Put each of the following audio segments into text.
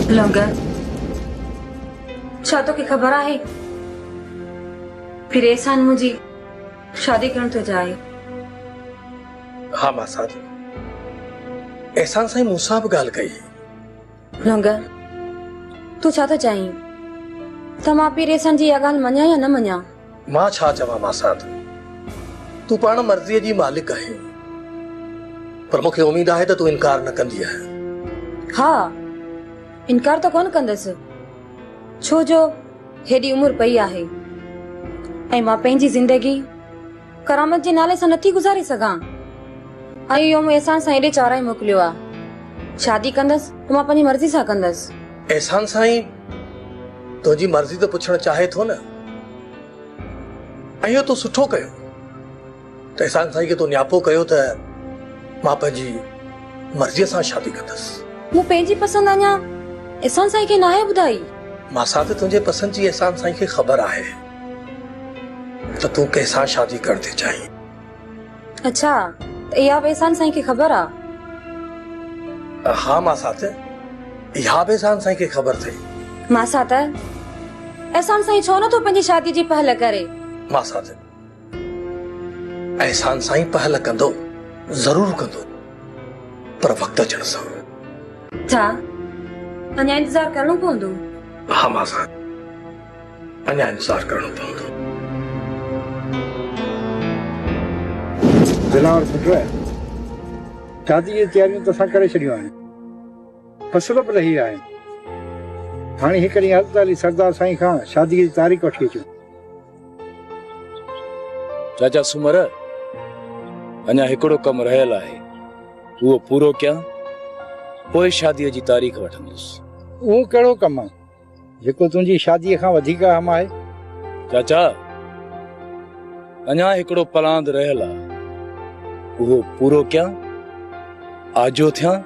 لنگر، ڇا توکي خبر آهي پھرين سان منھنجي شادي ڪرڻ ٿو چاهي؟ ها ماسات، احسان سائين مون سان به ڳالهه ڪئي هئي. رنگ، تون ڇا ٿو چاهين ته مان پير احسان جي اها ڳالهه مڃان يا نه مڃان؟ مان ڇا چوان ماسات، تون پاڻ مرضيء جي مالڪ آهين، پر مون کي اميد آهي ته تون انڪار نه ڪندينء. ها، انڪار ته ڪونه ڪندس، ڇو جو هيڏي عمر پئي آهي ۽ مان پنهنجي زندگي، ڪرامت جي نالي سان نٿي گذاري سگهان ۽ اهو مون احسان سائين ڏي چارائي موڪليو آ شادي ڪندس ته مان پنهنجي مرضي سان ڪندس. احسان سائين تنهنجي مرضي ته پڇڻ چاهي ٿو نه ۽ اهو تو سٺو ڪيو ته احسان سائين کي تو نياپو ڪيو ته مان پنهنجي مرضي سان شادي ڪندس. مون پنهنجي پسند اڃا احسان سائين کي ناهي ٻڌائي. ماسات تنهنجي پسند جي احسان سائين کي خبر آهي. ته تون ڪنهن سان شادي ڪرڻ ٿي چاهين؟ اڇا ته اها به احسان سائين کي خبر آ؟ ها ماسات اها به احسان سائين کي خبر ٿئي. ماسات احسان سائين ڇو نٿو پنهنجي شادي جي پهل ڪري؟ ماسات احسان سائين پهل ڪندو ضرور ڪندو پر وقت اچڻ سان. ڇا اڃا انتظار ڪرڻو پوندو؟ ها ماسات. اڃا انتظار ڪرڻو پوندو. دلاور سٺو آهي. شادي جون تياريون ته اسان ڪري ڇڏيون آهن. فصل به لهي آهن. هاڻي هڪ ڏينهن هلت علي سردار سائين کان شادي جي تاريخ وٺي اچون. چاچا سومر اڃا هڪڙو ڪم رهيل آهي اهو پورو ڪيان پوء شادي جي تاريخ وٺندس. اهو ڪهڙو ڪم آهي؟ جيڪو تنهنجي شاديء کان وڌيڪ اهم آهي. چاچا، اڃا هڪڙو پلاند رهيل آ، اهو پورو ڪيان، آجو ٿيان،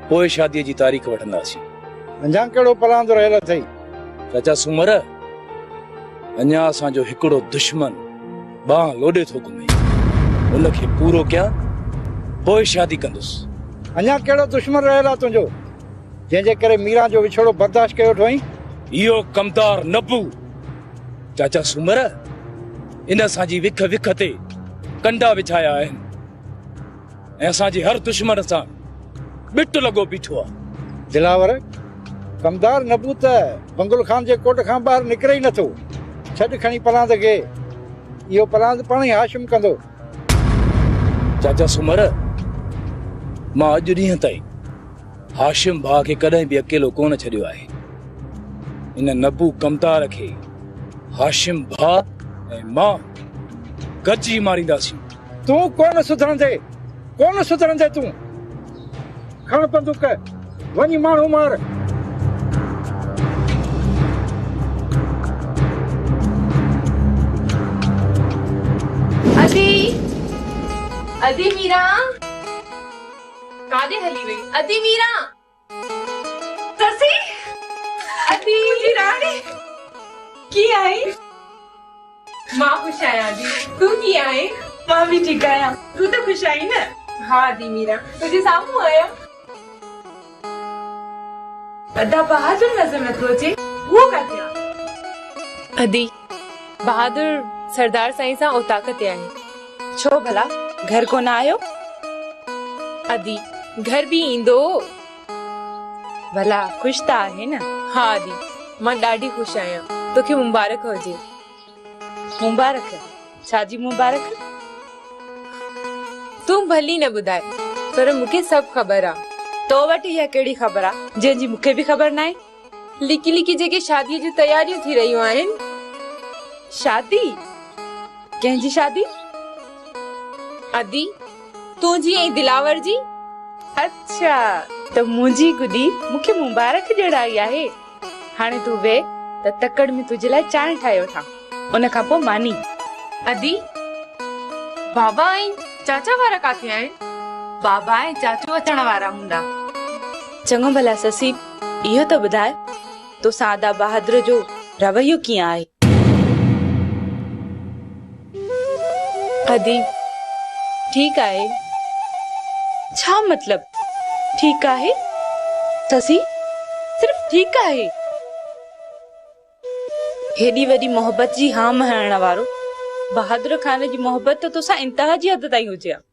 پوء شاديء جي تاريخ وٺنداسين. اڃا ڪهڙو پلاند رهيل اٿئي؟ چاچا سومر، اڃا اسان جو هڪڙو دشمن ٻانهن لوڏي ٿو گهمي، ان کي پورو ڪيان، پوء شادي ڪندس. اڃا ڪهڙو دشمن رهيل آ تنهنجو؟ جنهن جي ڪري ميران جو وڇوڙو برداشت ڪيو وٺوئين. اهو ڪمدار نبو چاچا سومر ان اسان جي وک وک تي ڪنڊا وڇايا آهن ۽ اسان جي هر دشمن سان ٻٽ لڳو بيٺو آهي. دلاور، ڪمدار نبو ته بنگل خان جي ڪوٽ کان ٻاهر نڪري ئي نٿو. ڇڏ کڻي پلاند کي. اهو پلاند پاڻ ئي هاشم ڪندو. چاچا سومر، مان اڄ ڏينهن تائين هاشم ڀاء کي ڪڏهن به اڪيلو ڪونه ڇڏيو آهي. ان نبو ڪمتار کي هاشم ڀاء ۽ مان گڏجي مارينداسين. تون ڪونه سڌرندين، ڪونه سڌرندين تون. کڻ بندوق، وڃي ماڻهو مار. ادي، ادي ميران. ڪاڏي هلي وئي ادي ميران سسي ادي منهنجي راڻي ڪيئن آهين مان خوش آهيان ادي تون ڪيئن آهين مان به ٺيڪ آهيان تون ته خوش آهين نه ها ادي ميران تنهنجي سامهون آهيان ادا بهادر نظر نٿو اچي اهو ڪاٿي آهي ادي بهادر سردار سائين سان اوطاق تي آهي. ڇو ڀلا گهر ڪونه آيو؟ ادي گهر به ايندو. ڀلا خوش ته آهي نه؟ ها ادي مان ڏاڍي خوش آهيان. توکي مبارڪ هجي. مبارڪ؟ ڇا جي مبارڪ؟ تون ڀلي نه ٻڌاء پر مون کي سڀ خبر آ. تو وٽ اها ڪهڙي خبر آ جنهن جي مون کي به خبر ناهي. لڪي لڪي جيڪي شادي جون تياريون ٿي رهيون آهن شادي ڪنهن جي شادي ادي تنهنجي ۽ دلاور جي اڇا ته منهنجي گڏي مون کي مبارڪ ڏيڻ آئي آهي هاڻي تون ويهه ته تڪڙ ۾ تنهنجي لاء چانهه ٺاهي وٺان ان کان پوء ماني ادي بابا ۽ چاچا وارا ڪاٿي آهن بابا ۽ چاچو اچڻ وارا هوندا چڱو ڀلا سسي اهو ته ٻڌاء تو سان ادا بهادر جو رويو ڪيئن آهي؟ ادي ٺيڪ آهي. ڇا مطلب ٺيڪ آهي؟ سسي صرف ٺيڪ آهي. هيڏي وڏي محبت جي هام هڻڻ وارو بهادر خان جي محبت ته توسان انتها جي حد تائين هجي ها.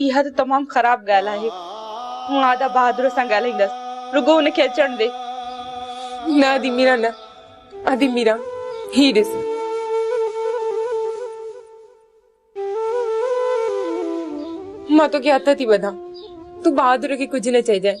اها ته تمام خراب ڳالهه آهي. مون آدا بهادر سان ڳالهائيندس. رڳو هن کي اچڻ ڏي. نه ادي ميران نه. ادي ميران هي ڏس. مان توکي هٿ ٿي ٻڌان. تون بهادر کي ڪجهه نه چئجانء.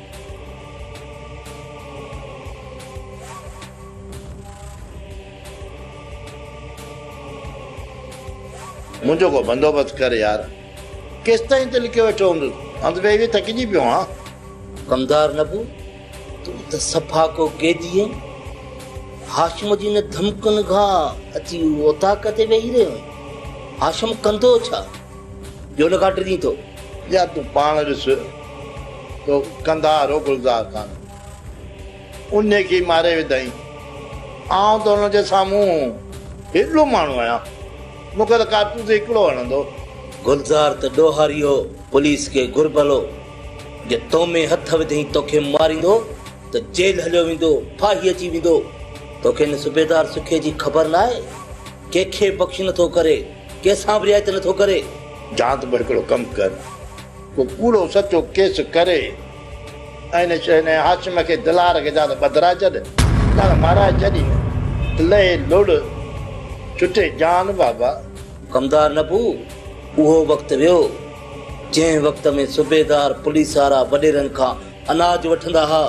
منهنجو ڪو بندوبست ڪر يار. ڪيستائين ته لڪيو ويٺو هوندس. هنڌ ويهي ويهي ٿڪجي پيو آهيان. ڪمدار نبو، تون ته صفا ڪو قيدي آهين. هاشم جي ان ڌمڪين کان اچي اوطاق تي ويهي رهيو آهين. هاشم ڪندو ڇا؟ جو ان کان ڊڄين ٿو. يا تون پاڻ ڏس تو قنڌار هو گلزار خان انهي کي ماري وڌائين. آئون ته ان جي سامهون هيڏو ماڻهو آهيان مون کي ته ڪارتوس هڪڙو هڻندو. گلزار ته ڏوهاري هو پوليس کي گهربل هو جي تو ۾ هٿ وڌين توکي ماريندو ته جيل هليو ويندو ڦاهي اچي ويندو. توکي ان صوبيدار سکي جي خبر ناهي ڪنهن کي بخش نٿو ڪري. ڪنهن سان به رعايت نه ٿو ڪري. جان ته پوء هڪڙو ڪم ڪر. ڪو ڪوڙو سچو ڪيس ڪري ۽ هن هاشم کي دلار کي جا ته ٻڌرائي ڇڏ يا ته مارائي ڇڏ ۽ لهي لڙ ڇٽي جان بابا. ڪمدار نبو اهو وقت ويو، جنهن وقت ۾ صوبيدار پوليس وارا وڏيرن کان اناج وٺندا ها.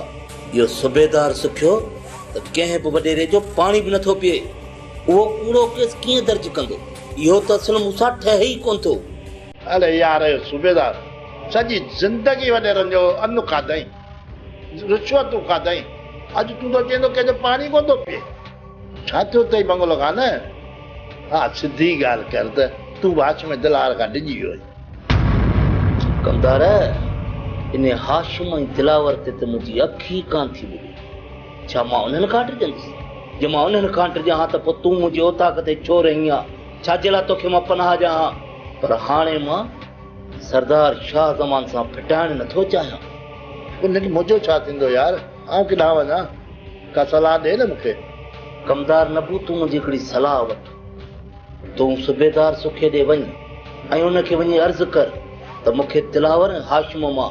اهو صوبيدار سکيو ته ڪنهن به وڏيري جو پاڻي به نه ٿو پيئي. اهو ڪوڙو ڪيس ڪيئن درج ڪندو؟ اهو ته اصل مون سان ٺهي ئي ڪونه ٿو. اڙي يار صوبيدار، سڄي زندگي وڏيرن جو ان کاڌئين، رشوتون کاڌئين، اڄ تون ٿو چئين ته ڪنهن جو پاڻي ڪونه ٿو پيئي. ڇا ٿيو اٿئي بنگلو خان؟ ها سڌي ڳالهه ڪر ته تون به هاشم دلاور کان ڊڄي ويو آهين. ڪمدار، انهي هاشم ۽ دلاور تي ته منهنجي اک ئي ڪانه ٿي ٻڏي. ڇا مان انهن کان ڊڄندس؟ جي مان انهن کان ڊڄان ها ته پوء تون منهنجي اوطاق تي ڇو رهين ها؟ ڇا جي لاء توکي مان پناهه ڏيان ها؟ پر هاڻي مان سردار شاهه زمان سان ڦٽائڻ نه ٿو چاهيان. پر نيٺ منهنجو ڇا ٿيندو يار؟ آئون ڪيڏانهن وڃان؟ ڪا صلاح ڏي نه مون کي. ڪمدار نبو تون منهنجي هڪڙي صلاح وٺ. تون صوبيدار سکي ڏي وڃ ۽ ان کي وڃي عرض ڪر ته مون کي دلاور ۽ هاشم مان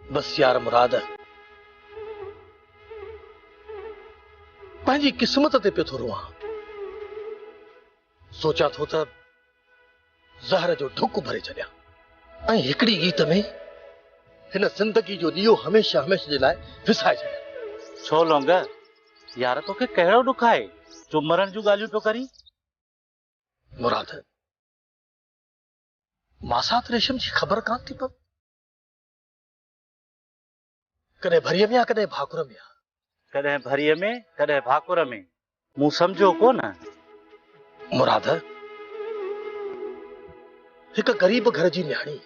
بس يار مراد پنهنجي قسمت تي پيو ٿو روئان سوچان ٿو ته زهر جو ڍڪ ڀري ڇڏيان ۽ هڪڙي گيت ۾ هن زندگي جو ڏيئو هميشه هميشه جي لاء وسائي ڇڏيان ڇو لونگ يار توکي ڪهڙو ڏک آهي جو مرڻ جون ڳالهيون پيو ڪرين مراد ماسات ريشم جي خبر ڪان ٿي پوي ڪڏهن ڀريء ۾ يا ڪڏهن ڀاڪر ۾. ڪڏهن ڀريء ۾ ڪڏهن ڀاڪر ۾. مون سمجهيو ڪونه. مراد هڪ غريب گهر جي نياڻي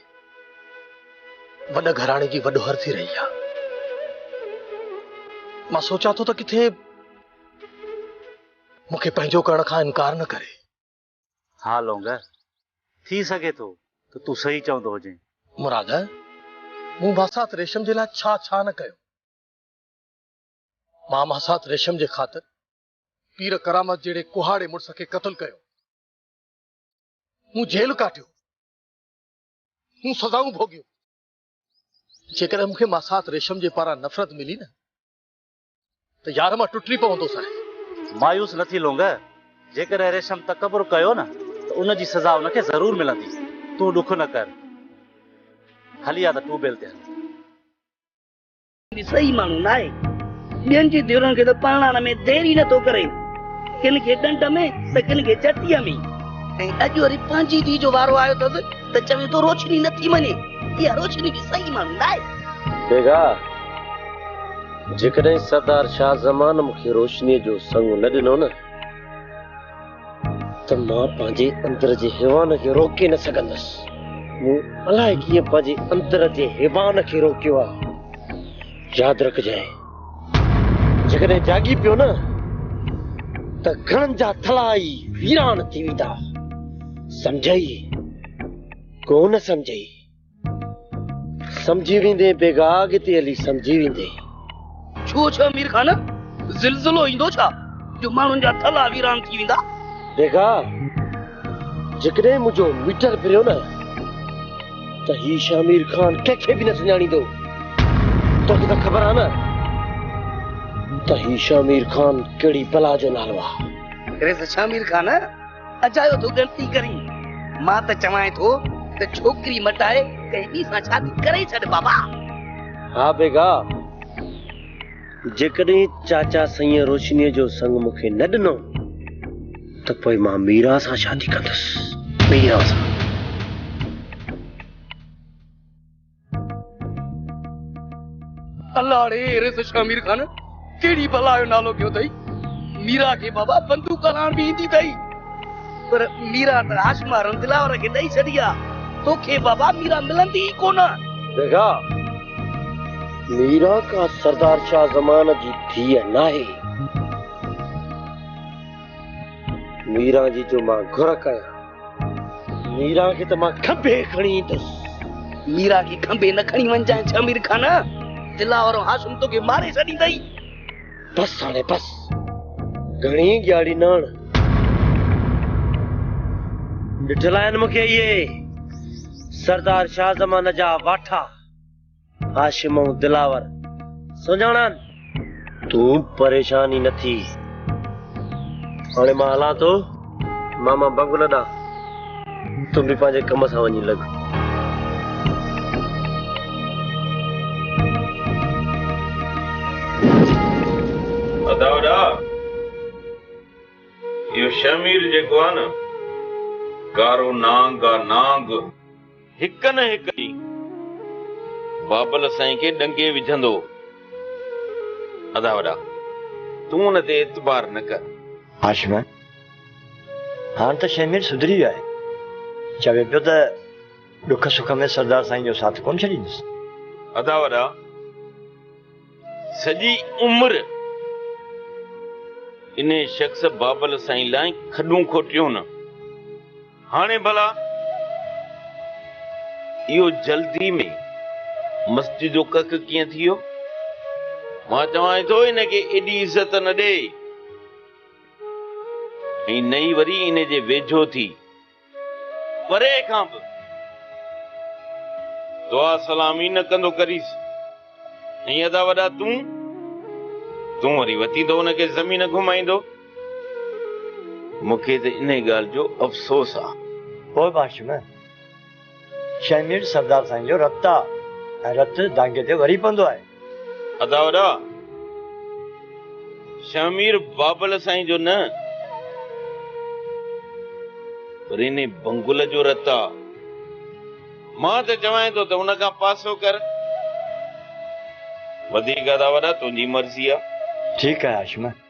وڏ گهراڻي جي وڏوهر ٿي رهي آ. مان سوچان ٿو ته ڪٿي مون کي پنهنجو ڪرڻ کان انڪار نه ڪري. ها لونگ، ٿي سگهي ٿو ته تون صحيح چوندو هجين. مراد، مون ماسات ريشم جي لاء ڇا ڇا نه ڪيو. مان ماسات ريشم جي خاطر پير ڪرامت جهڙي ڪهاڙي مڙس کي قتل ڪيو. مون جيل ڪاٽيو. مون سزائون ڀوڳيون. جيڪڏهن مون کي ماسات ريشم جي پاران نفرت ملي نه ته يار مان ٽٽي پوندو سانء. مايوس نه ٿي لونگ، جيڪڏهن ريشم تڪبر ڪيو نه ته ان جي سزا ان کي ضرور ملندي. تون ڏک نه ڪر. هلي آ ته ٽيوب ويل تي هلون. صحيح ماڻهو ناهي. ٻين جي ڌيئرن کي ته پرڻائڻ ۾ دير ئي نه ٿو ڪري. ڪن کي ڏنڊ ۾ ته ڪن کي چٽيء ۾. ۽ اڄ وري پنهنجي ڌيء جو وارو آيو اٿس ته چوين ٿو روشني نه ٿي مڃي. اها روشني به صحيح ماڻهو ناهي. بيگاهه! جيڪڏهن سردار شاهه زمان مون کي روشنيء جو سڱ نه ڏنو نه ته مان پنهنجي اندر جي هيوان کي روڪي نه سگهندس مون الائي ڪيئن پنهنجي اندر جي هيوان کي روڪيو آهي ياد رکجانء جيڪڏهن جاڳي پيو نه ته گهڻن جا ٿلها ئي ويران ٿي ويندا سمجهئي ڪو نه سمجهئي سمجهي ويندين بيگا اڳتي هلي سمجهي ويندين. ڇو ڇا مير خان زلزلو ايندو ڇا جو ماڻهن جا ٿلها ويران ٿي ويندا. بيگا جيڪڏهن منهنجو ميٽر ڦريو نه ته هي شاهه مير خان ڪنهن کي به نه سڃاڻيندو. توکي ته خبر آ نه ته هي شاهه مير خان ڪهڙي بلا جو نالو آ. ريس شاهه مير خان اجايو ٿو ڳڻتي ڪرين. مان ته چوانء ٿو ته ڇوڪري مٽائي ڪنهن ٻي سان شادي ڪرائي ڇڏ بابا. ها بيگا، جيڪڏهن چاچا سائينء روشنيء جو سڱ مون کي نه ڏنو ته پوء مان ميرا سان شادي ڪندس. ميرا سان. الاڙي ايري سو شاھ مير خان ڪهڙي بلا جو نالو ڪيو اٿئي ميرا کي بابا بندوق هلاڻ به ايندي اٿئي پر ميرا ته آش مارن دلاور کي ڏئي ڇڏي آ توکي بابا ميرا ملندي ئي ڪونه بيگا ميرا ڪا سردار شاھ زمان جي ڌيء ناهي ميرا جي جو مان گهر ڪيان ميران کي ته مان کنڀي کڻي ايندس. ميران کي کنڀي نه کڻي وڃجانء ڇا مير خان! دلاور ۽ هاشم توکي ماري ڇڏيندئي. بس هاڻي بس. گهڻي ڳياڙي نه هڻ. ڏٺل آهن مون کي اهي سردار شاهه زمان جا واٺا. هاشم ۽ دلاور سڃاڻان. تون پريشان ئي نه ٿي. هاڻي مان هلان ٿو ماما بگل ڏانهن. تون به پنهنجي ڪم سان وڃي لڳ. ادا وڏا، اهو شهمير جيڪو آهي نه، گارو نانگ آ، نانگ. هڪ نه هڪ ڏينهن بابل سائين کي ڏنگي وجهندو. ادا وڏا تون ان تي اعتبار نه ڪر. هاشمه، هاڻ ته شهمير سڌري ويو آهي. چوي پيو ته ڏک سک ۾ سردار سائين جو ساٿ ڪونه ڇڏيندس. ادا وڏا! سڄي عمر انهي شخص بابل سائين لاء کڏون کوٽيون نه. هاڻي ڀلا اهو جلدي ۾ مسجد جو ڪک ڪيئن ٿي ويو؟ مان چوانء ٿو ان کي ايڏي عزت نه ڏي ۽ نه ئي وري ان جي ويجهو ٿي. پري کان به دعا سلام ئي نه ڪندو ڪريس. ۽ ادا وڏا تون؟ تون وري وتين ٿو ان کي زمين گهمائيندو؟ مون کي ته انهيء ڳالهه جو افسوس آ. پوء باشمه! شينهن مير سردار سائين جو رت آ ۽ رت دانگي تي وري پوندو آهي. ادا وڏا شينهن مير بابل سائين جو نه پر انهي بنگل جو رت آ. مان ته چوانء ٿو ته ان کان پاسو ڪر. وڌيڪ ادا وڏا تنهنجي مرضي آ. ٺيڪ آهي هاشم.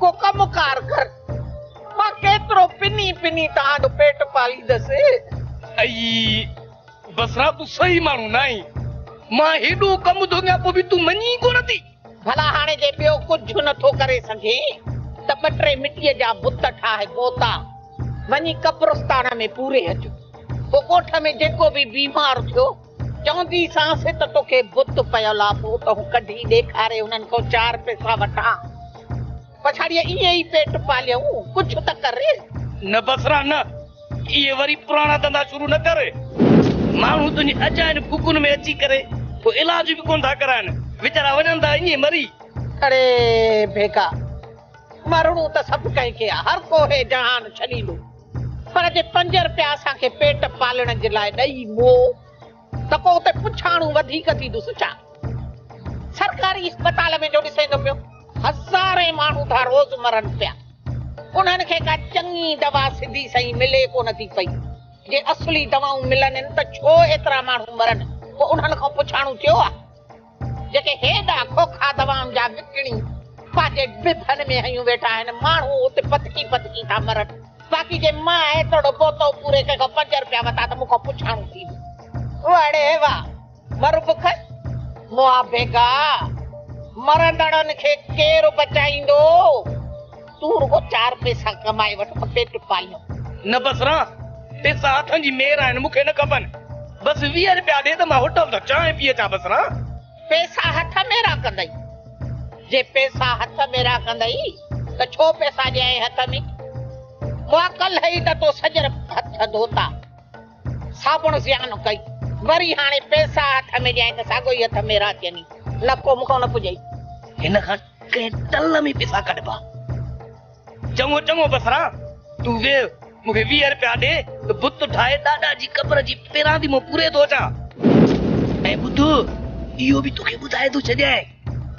ڪو ڪم ڪار ڪر، مان ڪيترو پني پني توهان جو پيٽ پاليندس. اي بصريٰ تون صحيح ماڻهو ناهين، مان هيڏو ڪم ٿو ڪيان پوء به تون مڃين ڪونه ٿي. ڀلا هاڻي جي ٻيو ڪجهه نه ٿو ڪري سگهين ته ٻه ٽي مٽيء جا بت ٺاهي پوتا وڃي قبرستان ۾ پوري اچ. پوء ڳوٺ ۾ جيڪو به بيمار ٿيو، چوندي سانس ته توکي بت پيل آ پوء تون ڪڍي ڏيکاري انهن کان چار پيسا وٺان پڇاڙيء ائين ئي پيٽ پاليون ڪجهه ته ڪر. نه بصرا نه اهي وري پراڻا ڌنڌا شروع نه ڪر ماڻهو تنهنجي اجاين ڦوڪن ۾ اچي ڪري ٿو علاج به ڪونه ٿا ڪرائن ويچارا وڃن ٿا ائين مري. اڙي ڀيڪا مرڻو ته سڀ ڪنهن کي آ هر ڪو هي جهان ڇڏيندو. پر جي پنج رپيا اسان کي پيٽ پالڻ جي لاء ڏئي مئو ته پوء اتي پڇاڻو وڌيڪ ٿيندس ڇا؟ سرڪاري اسپتال ۾ جو ڏسين ٿو پيو، هزارين ماڻهو ٿا روز مرن پيا. انهن کي ڪا چڱي دوا سڌي سئي ملي ڪونه ٿي پئي. جي اصلي دوائون ملنين ته ڇو ايترا ماڻهو مرن؟ ڪو انهن کان پڇاڻو ٿيو آهي؟ جيڪي هيڏا کوکا دوائن جا وڪڻي پنهنجي ڊپن ۾ هنيون ويٺا آهن، ماڻهو اتي پتڪي پتڪي ٿا مرن، باقي جي مان ايترڙو بوتو پوري ڪنهن کان پنج رپيا وتا ته مون کان پڇاڻو ٿيندو. وڙي وا مر بک مئا ڀيگا، مرندڙن کي ڪير بچائيندو؟ تون رڳو چار پئسا ڪمائي وٺ ته پيٽ پاليون. نه بس ران، پئسا هٿن جي مير آهن، مون کي نه کپن. بس ويهه رپيا ڏي ته مان هوٽل تان چانهه پي اچان بس ران. پئسا هٿ ۾ راکندئي؟ جي پئسا هٿ ۾ راکندئي ته ڇو پئسا ڏيانء هٿ ۾؟ مون کان ڪلهه ئي ته تو سڄر هٿ ڌوتا. ساپڻ زيان ڪئي وري هاڻي پئسا هٿ ۾ ڏيائين ته ساڳو ئي هٿ ميرا چئني نه ڪو مون کان نه پڄئي. هن کان ڪنهن ٽل ۾ پئسا ڪڍبا. چڱو چڱو بسران تون ويهه مون کي ويهه رپيا ڏي ته بت ٺاهي ڏاڏا جي قبر جي پيران ٿي مون پوري ٿو اچان. ۽ ٻڌ اهو به توکي ٻڌائي ٿو ڇڏيان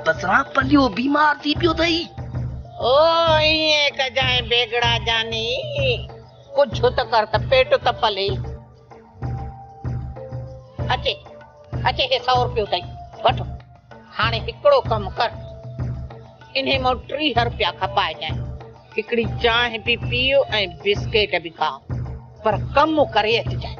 بسران پليو بيمار ٿي پيو اٿئي. او ائين ڪجانء بيگڙا جاني. ڪجهه ته ڪر ته پيٽ ته پلي. اچي اچي هي سؤ روپيو اٿئي وٺ. هاڻي هڪڙو ڪم ڪر انهي مان ٽيهه روپيا کپائجانء. هڪڙي چانهه به پيء ۽ بسڪيٽ به کاء پر ڪم ڪري اچجانء.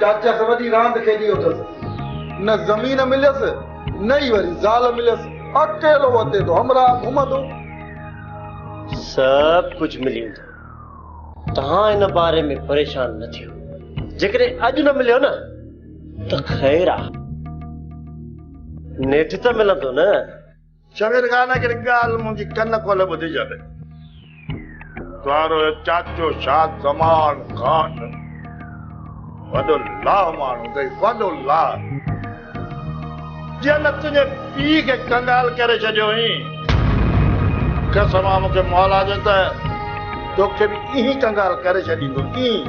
چاچس وڏي راند کيڏي اٿس. نه زمين مليس نه ئي وري زال مليس. اڪيلو وتي ٿو همراهه گهمندو. سڀ ڪجهه ملي ويندو. توهان ان باري ۾ پريشان نه ٿيو. جيڪڏهن اڄ نه مليو نه ته خير آ. نيٺ ته ملندو نه. شبير خان هڪڙي ڳالهه منهنجي ڪن کولي ٻڌجي ته تهارو چاچو شاد زمان خان وڏو لاهه ماڻهو اٿئي وڏو لاهه جنهن تنهنجي پيء کي ڪنگال ڪري ڇڏيو هئين قسم آ مون کي مولا جو ته توکي به ائين ئي ڪنگال ڪري ڇڏيندو ائين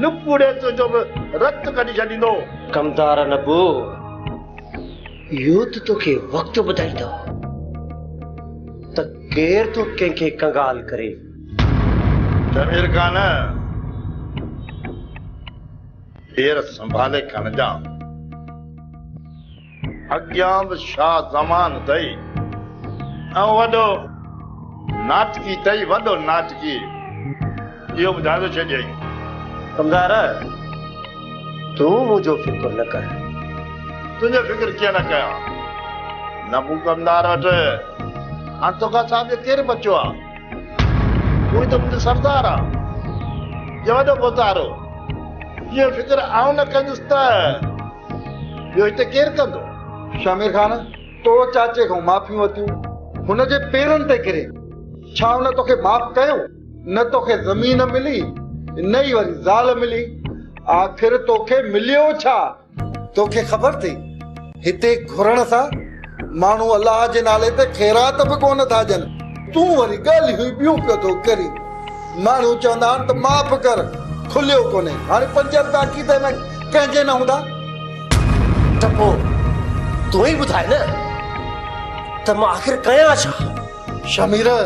نپوڙي تنهنجو به رت ڪڍي ڇڏيندو. ڪمتار نپو! اهو ته توکي وقت ٻڌائيندو ته ڪير ٿو ڪنهن کي ڪنگال ڪري. ضمير کان نه پير سنڀالي کنجان. اڳيان به شاهه زمان اٿئي ۽ وڏو ناٽڪي اٿئي وڏو ناٽڪي. اهو ٻڌائي ٿو ڇڏيائين. ڪمدار! تون منهنجو فڪر نه ڪر. تنهنجو فڪر ڪيئن نه ڪيان؟ نه ڪو ڪمدار وٽ. هاڻ توکان سواء ٻيو ڪير بچيو آ؟ تون ئي ته منهنجو سردار آ. جي وڏو ڀوتارو اهو فڪر آئون نه ڪندس ته ٻيو هتي ڪير ڪندو؟ شامير خان! تو چاچي کان معافيون ورتيون، هن جي پيرن تي ڪري، ڇا هن توکي معاف ڪيو؟ نه توکي زمين ملي نه ئي وري زال ملي آخر توکي مليو ڇا؟ توکي خبر ٿئي هتي گهرڻ سان ماڻهو الله جي نالي تي خيرات به ڪونه ٿا ڏين. تون وري ڳالهيون ئي ٻيون پيو ٿو ڪرين. ماڻهو چوندا آهن ته معاف ڪر کليو ڪونهي هاڻي پنج رپيا کيسي ۾ ڪنهن جي نه هوندا؟ ته پوء تون ئي ٻڌاء نه ته مان آخر ڪيان ڇا؟ شميره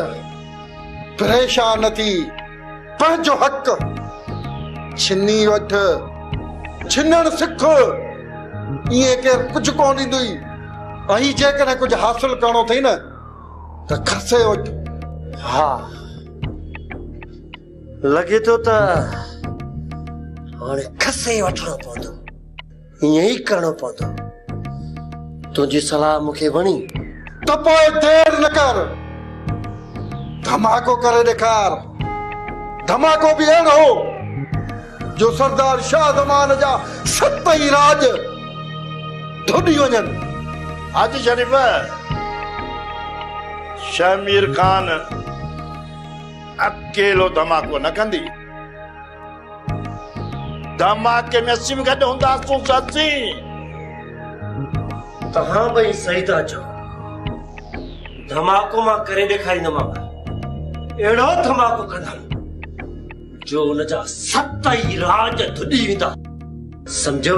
پريشان ٿي پنهنجو حق ڇني وٺ، ڇنڻ سک، ائين ڪير ڪجهه ڪونه ڏيندئي، ۽ جيڪڏهن ڪجهه حاصل ڪرڻو اٿئي نه ته کسي وٺ. ها، لڳي ٿو ته هاڻي کسي وٺڻو پوندو. ائين ئي ڪرڻو پوندو. تنهنجي صلاح مون کي وڻي. ته پوء دير نه ڪر، ڌماڪو ڪري ڏيکار. ڌماڪو به اهڙو، جو سردار شاهه زمان جا ست ئي راڄ ڌوڏي وڃن. حاجي شريف، شهمير خان اڪيلو ڌماڪو نه ڪندي. ڌماڪي ۾ اسين به گڏ هونداسون سسي. توهان ٻئي صحيح ٿا چئو. ڌماڪو مان ڪري ڏيکاريندومانو. اهڙو ڌماڪو ڪندم جو ان جا ست ئي راڄ ڌڏي ويندا. سمجهيو؟